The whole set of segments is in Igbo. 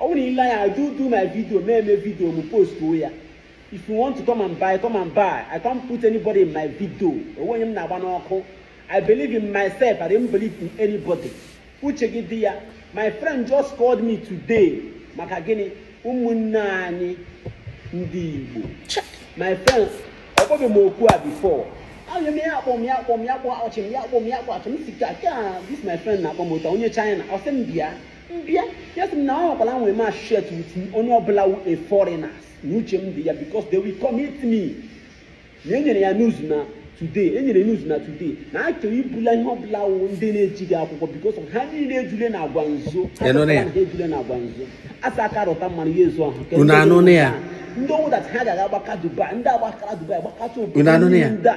ọ bụrụ na i lee anya I do do my video m mee video m postuo ya if you want to come and buy come and buy I can't put anybody in my video o nweghị onye m na-agba n'ọkụ I believe in myself I don't believe in anybody uche gị dị ya my friend just called me today maka gịnị ụmụnne anyị ndị Igbo my friend ọ kpọbeghị m oku a before onye m ya akpọ m ya akpọ m ya akpọ ọchị m ya akpọ m ya akpọ ọchị m si ka ka this my friend na-akpọ m ụta onye China ọ sị m bịa m bịa ya sị m na ọkwala nwere m ga-share with onye ọbụla wụ a foreigners na uche m dị ya because they will commit me na enyere ya news na today enyere news na today na a chọrọ ibula ihe ọbụla wụ ndị na-ejighị akwụkwọ because of ha niile ejule na Guangzhou ha Ị nụ na ya? chọtara na ha ejule na Guangzhou a sị aka rụta mmanụ ya ezuo ọha Unu anụ na ya? ndị ọ wụ that ha ga-aga gbaka Dubai ndị gbakara Dubai gbakata Unu anụ na ya? ndị a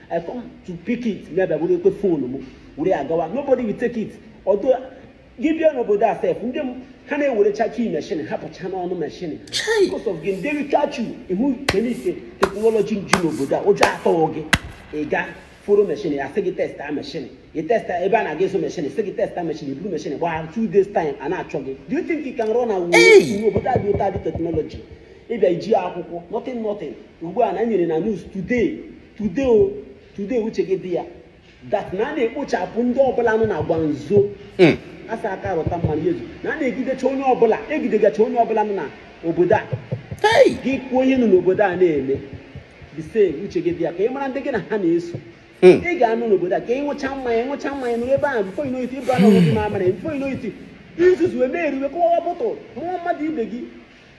I come to pick it m abịa buru ekwe phone m were agawa nobody will take it although gị bịa n'obodo a sef ndị ha na-ewerecha key machine hapụcha n'ọnụ machine because of gịnị they will catch you ị hụ Chinese technology dị n'obodo a ụjọ atụọ gị ị ga foro machine ya sị gị testa machine ị testa ebe a na-aga eso machine sị gị testa machine i buru machine gbaa two days time a na-achọ gị do you think you can run away n'obodo a with all the technology ị bịa i ji akwụkwọ nothing nothing ugbu a na nyere na news today today o today uche gị dị ya that na a na-ekpochapụ ndị ọbụla nọ na Guangzhou hmm. a sị aka rụta mmanụ ya ezuo na a na-ejidecha onye ọbụla ejidegacha onye ọbụla nọ na obodo a gị wụ onye nọ n'obodo a na-emebisi uche gị dị ya ka ị mara ndị gị na ha na-eso hmm. ị ga-anọ n'obodo a ka ị ṅụcha mmanya ṅụcha mmanya nọrọ ebe ahụ before you know it ịbụ anụ ọgụgụ ma amara before you know it izuzu eme eriwe kụwawa bottle mụọ mmadụ ibe gị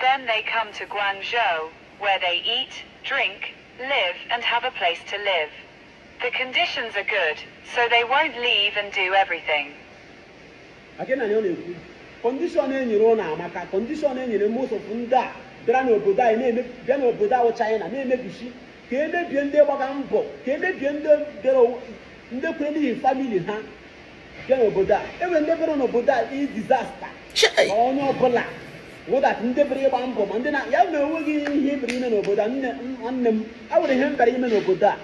Then they come to Guangzhou, where they eat, drink, live, and have a place to live. The conditions are good, so they won't leave and do everything. Again, I only agree. Condition e nyere unu amaka, condition e nyere most of ndị a, bịara n'obodo a bịa n'obodo a wụ China na-emebisi ka e mebie ndị gbaga mbọ ka e mebie ndị kwere n'ihi family ha bịa n'obodo a enwere ndị bịara n'obodo a ị disaster Chai! onye ọbụla wụ that ndị bịara ịgba mbọ ma ndị na ya na enweghị ihe bịara ime n'obodo a nne m- nwanne m a nwere ihe m bịara ime n'obodo a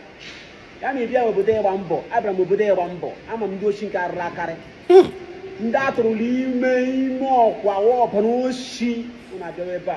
ya na m bịa obodo a ịgba mbọ abịara m obodo ịgba mbọ ama ndị oshi nke arụrụ akarị Hmm. ndị atụrụla ime ime ọkwa wa ọbara oshi na-abịawa ebe a